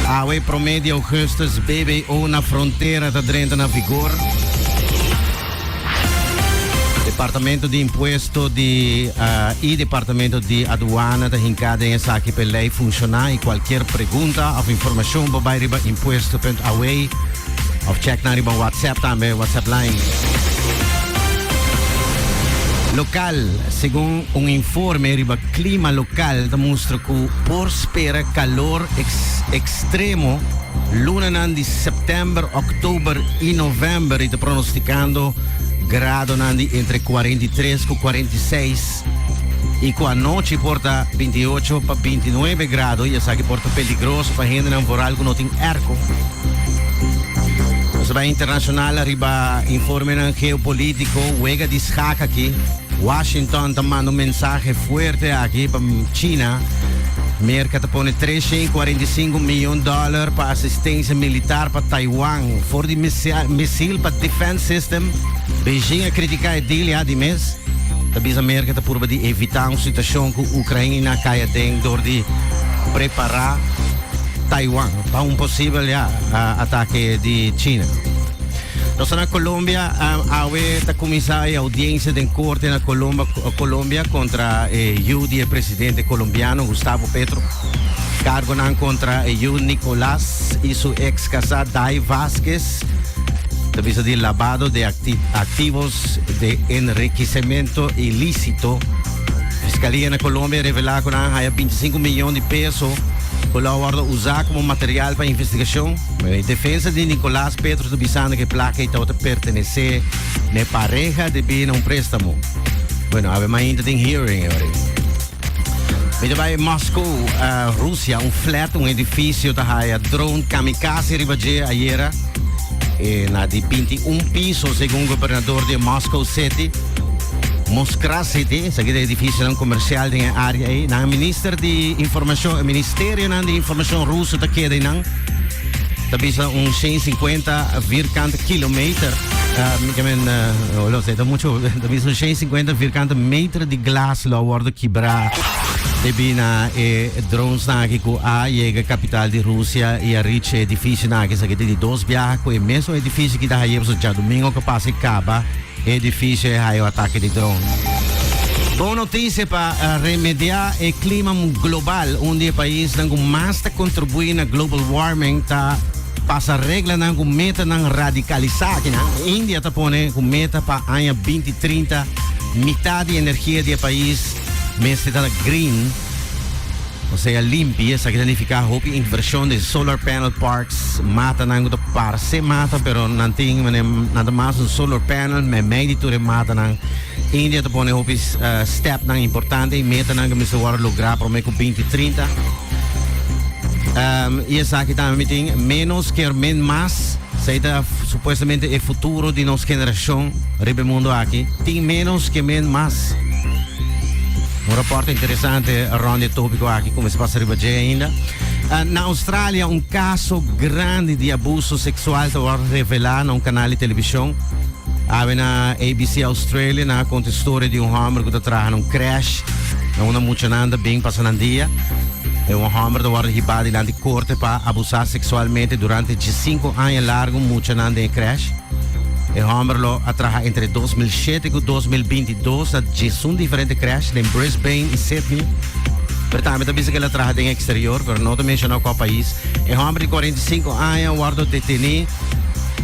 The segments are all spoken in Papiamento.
Awe promé di Augustus BBO na frontera ta drenta na vigor. Departamento di Impuesto di uh, i Departamento di Aduana ta hinka den esaki pe lei funciona i cualquier pregunta of informacion bo bai riba impuesto.awe of check na riba WhatsApp tambe WhatsApp line local, según un informe riba Klima lokal ta mustra ku por spera kalor ekstremo lunanan di sèptèmber, òktòber i novèmber i ta pronostikando gradonan di entre kuarenta i tres ku kuarenta i seis i ku anochi por ta binti i ocho pa binti i nuebe grado i esaki por ta peligroso pa hendenan voral ku no tin èrko. Nos a bai internashonal riba informenan geopolítiko, wega di shak aki. Washington ta manda un mensahe fuerte aki pa China. Merka ta pone tres shen cuarenta y cinco miyon dollar pa asistencia militar pa Taiwan for di misil pa defense system. Beijing a critica e deal ya di mes. Ta bisa Merka ta purba di evita un situacion cu Ucraina cay aden door di prepara Taiwan pa un posibel ya atake di China. Nos ta na Colombia. Awe ta kuminsá e audiensia den korte na Colombia kontra e yu di e presidente kolombiano Gustavo Petro. Kargonan kontra e yu Nicolas i su eks kasá Day Vazquez ta bisa di labado de aktivos de enrikisementu ilísito. Fiskalía na Colombia revelá ku nan haya 25 milyon di peso ku lo a wordo usá komo material pa investigashon. E defensa di Nicolas Petros ta bisando cu e placa ei tabata pertenece na e pareha di bini na un prestamo. Bueno, awe mainta tin hearing e ora. Mi ta bai Moskou, uh, Rusia, un flat, un edificio ta haya drone kamikaze riba dje ayera. E na di 21 piso, según gobernador de Moscow City. Moskra City, sa ki de edificio nan comercial den e área ei. Nan minister di información, e ministerio nan di información ruso ta keda ei nan. ta bisa un 150 vierkante kilometer. Uh, que men, uh, lo sé, ta mucho, ta bisa un 150 vierkante meter di glas lo worden quebra. De bina e drones na que ku a llega capital di Rusia y a reach edificio na que sa que di dos viajes ku e meso edificio ki da hayebso ja domingo que pase kaba. E edifisio a hayo atake di dron. Bon notisia pa remediá e klima global, un di e paisnan ku mas ta kontribuí na global warming ta pasa reglanan ku metanan radikalisá. Akinan India ta pone ku meta pa aña binti trinta mitad di energia di e pais mester ta green. O sea limpi, esaki ta nifiká hopi invershon den solar panel parks, matanan ku ta parse mata pero nan tin manera nan ta mas un solar panel meimei di tur e matanan. India ta pone hopi stèpnan importante i metanan ku mester wòrdu lográ promé ku binti trinta. I esaki tambe mi tin ménos ker men mas. Esei ta supuestamente e futuro di nos generashon riba e mundu aki. Tin ménos ke men mas. Un rapport interessante rond e topico aki cu mes pasa riba dje ainda. Uh, na Australia un caso grande di abuso sexual te word revela na un canal di television. Awe na ABC Australia na conta historia di un hombre cu te traha na un crash. Na una mucha nanda ben pasa nan dia. E un hombre te word hiba dilanti corte pa abusar sexualmente durante 15 años largo mucha nanda en crash. E hombre lo a traha entre 2007 cu 2020 Dos na djesun diferente crash den Brisbane y Sydney. Pero tambe ta bisa que el a traha den exterior, pero no ta menciona cua pais. E homber di cuarenta y cinco aña a wordo detene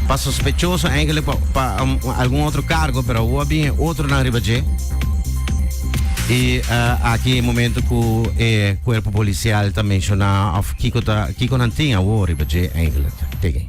pa sospechoso enkele pa pa algun otro cargo, pero awo a bin e otronan riba dje. Y aki e momento cu e cuerpo policial ta menciona of kico ta kico nan tin awo riba dje enkele. Tege.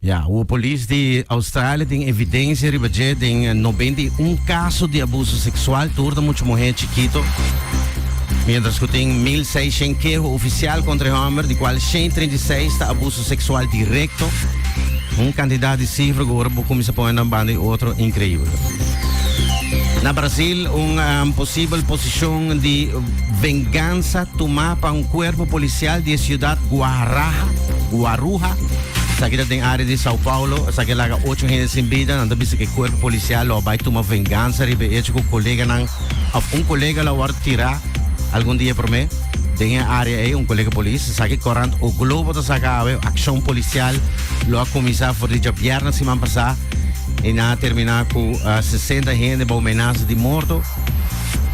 Ya, ua polis di Australia tin evidensia riba dje den noventa i un kaso di abuso seksual tur na mucha muhé chikito, miéntras ku tin mil seishent keho ofisial kontra e hòmber, di kual shent treinta i seis ta abuso seksual direkto. Un kantidat di sifra ku ora bo kuminsá pone nan banda e otro, inkreibel. Na Brasil, un posibel posishon di bengansa tumá pa un kuerpo polisial di e siudat Guaraha, Guaruha, Esaki ta den área di São Paulo. Esaki a laga ocho hende sin bida. Nan ta bisa ku e kuerpo polisial lo a bai tuma vengansa riba e echo ku koleganan òf un kolega lo a wòrdu tirá algun dia promé den e área ei, un kolega polis. Esaki korant O Globo ta saka awe, Akshon polisial lo a kuminsá for di djabièrna siman pasá i nan a terminá ku sesenta hende bou menasa di morto.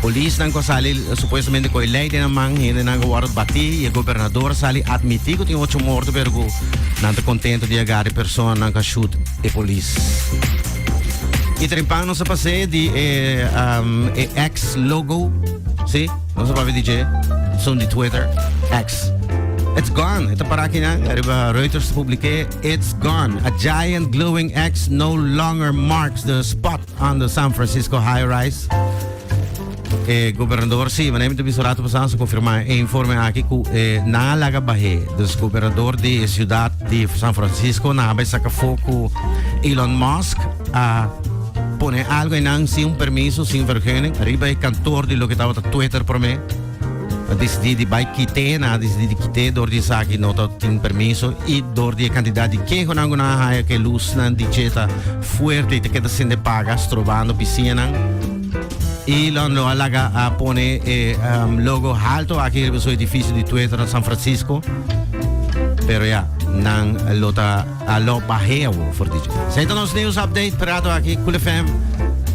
Polisnan ku a sali supuestamente ku e lei den nan man, hendenan ku a wòrdu batí i e gobernador a sali atmití ku tin ocho morto pero ku nan ta kontento di a gada e personanan ku a shut e polis. I trempan nos a pas'é di e e X logo, si, nos a papia di dje, son di Twitter, X. It's gone. E ta pará akinan. Ariba Reuters publiké, It's gone. A giant glowing X no longer marks the spot. Under San Francisco High Rise. E gobernador si, wanneer moet biso rato pasan, confirma e informe aki ku e na laga bahe. Dus gobernador di e ciudad di San Francisco na habay saka fo ku Elon Musk a pone algo einan sin un permiso, sin vergunning, riba e kantoor di loke tabata Twitter prome. A decidí di bai kit'é, nan a decidí di kit'é dor di esaki no ta tin permiso i dor di e kantidat di kehonan ku nan a haya ku e lusnan di dje ta fuerte i ta keda sende paga strobando bisiñanan. E lòndlo a laga a pone e logo halto aki riba su edifisio di tuetu na San Francisco, pero ya, nan lo ta a lòp bahea bo for di dje. Esei ta nos News Update, Prato aki, Cool FM.